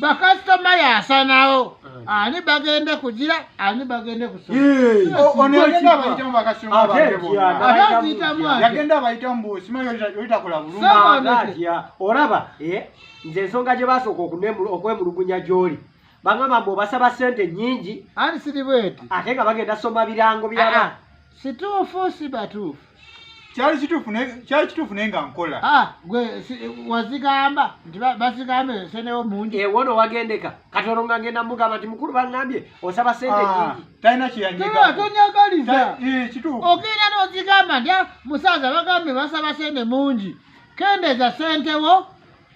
bakasitoma yasanawo ani bagende kugira ani bagende kusoabayitamuagenda abayitamu busimayoyitakola bulungatya olaba eh, nze ensonga gye basooka okwemulugunya gyoli bagamba mbu obasaba sente nyingi ani siri bweti ate nga bagenda soma birango byaba ah, ah. situufu si batuufu kyali kituufu naye kyali kituufu naye nga nkola ah, gwe wazigamba nti bazigamba esenewo mungi ewono eh, wagendeka katono nga ngenda mugamba nti mukulu bangambye osaba sente ah, nyingi talina kyeyanyegaatonyaagaliza eh, kituufu okeera nozigamba nti ah, musaaza bagambye basaba sente mungi kendeza sentewo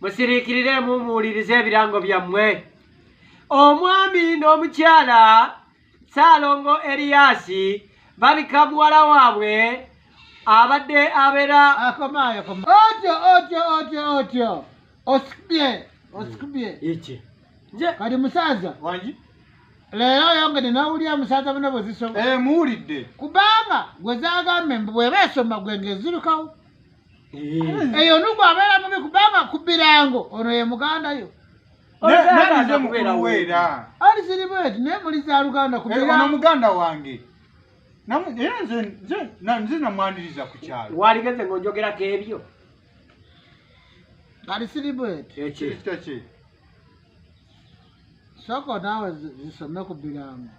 musiriikirireemu muwulirize ebirango byammwe omwami n'omukyala saalongo eriyaasi babika muwala waabwe abadde abeera otyo otyo otyo otyo osikubye osikubye iki nze kali musaaza wangi leero oyongede nawulira musaaza bona bwezisoma eh, muwulidde kubanga gwe zagamba embu bweba esoma gwe ngezirukawo eyo nugu abeera mubi kubanga ku birango ono ye muganda yo ali zirimu eti naye muli za luganda ku birango ono muganda wange era nze nze nze namwaniriza ku kyalo waligeze ng'ojogerako ebyo ali sirimu eti ekyo kye soko naawe zisome ku birango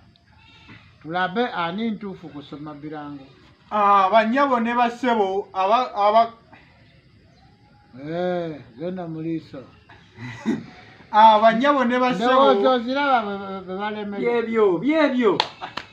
tulabe ani ntuufu kusoma birango ah, banyabo ne basebo aba eh, zena muliiso ah, banyabo ne basebo byebyo byebyo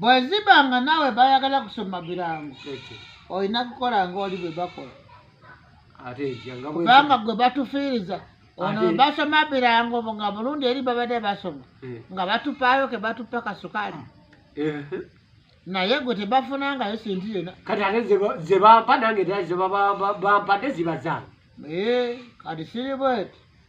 bweziba nga naawe bayagala kusoma birango olina kukola nga oli bwe bakola kubanga gwe batufiiriza ono basoma birango nga mulundi eri babadde basoma eh. nga batupaayo ke batupa kasukaali eh. naye gwe tebafunangayo sinti yena kati ate zebampa nange zebampadde ziba zange eh, kati siri bweti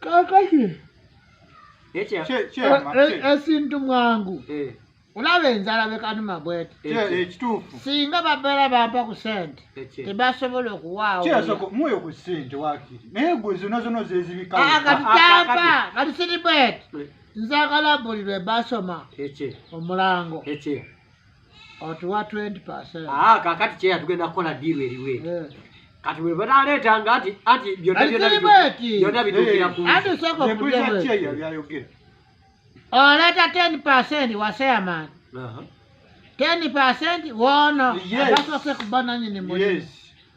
kakati Ekya- Kye- kyema, e- e- kye- esintu mwangu eh, olaba enzala bekanuma bwete kye- ekituufu singa babeera bampa ku sente ekye- tebasobola okuwaawo kyesoko mwoyo ku ssente wakiri naye gwe zona zona Ah, kati zezibikawo Ah, tampa kati siri bwete nzagala buli lwe basoma ekye- omulango ekye. otuwa 20 ah, kakati kyeya tugenda kukola diiru eriwo eri eh. kati bwe banaaleeta nga nti anti byonna bituukira kuyayoger oleeta 10 percent waseaman 10 percent woono agasose kubananyini muli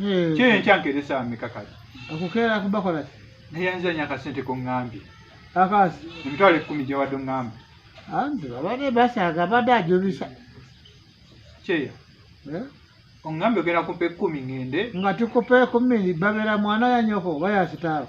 Eh, kyeyo enkya nkeresa ameka kati okukeera kubakola ki naye yanzanya akasente kongambye akasi emitwalo ekkumi gyewadde ongamba anti babadde basaaga abadde ajubisa kyeyo Eh, ongambye ogenda kumpa ekkumi ngende nga tukupa ekumiri babera mwana yanyoko oba yakitaawo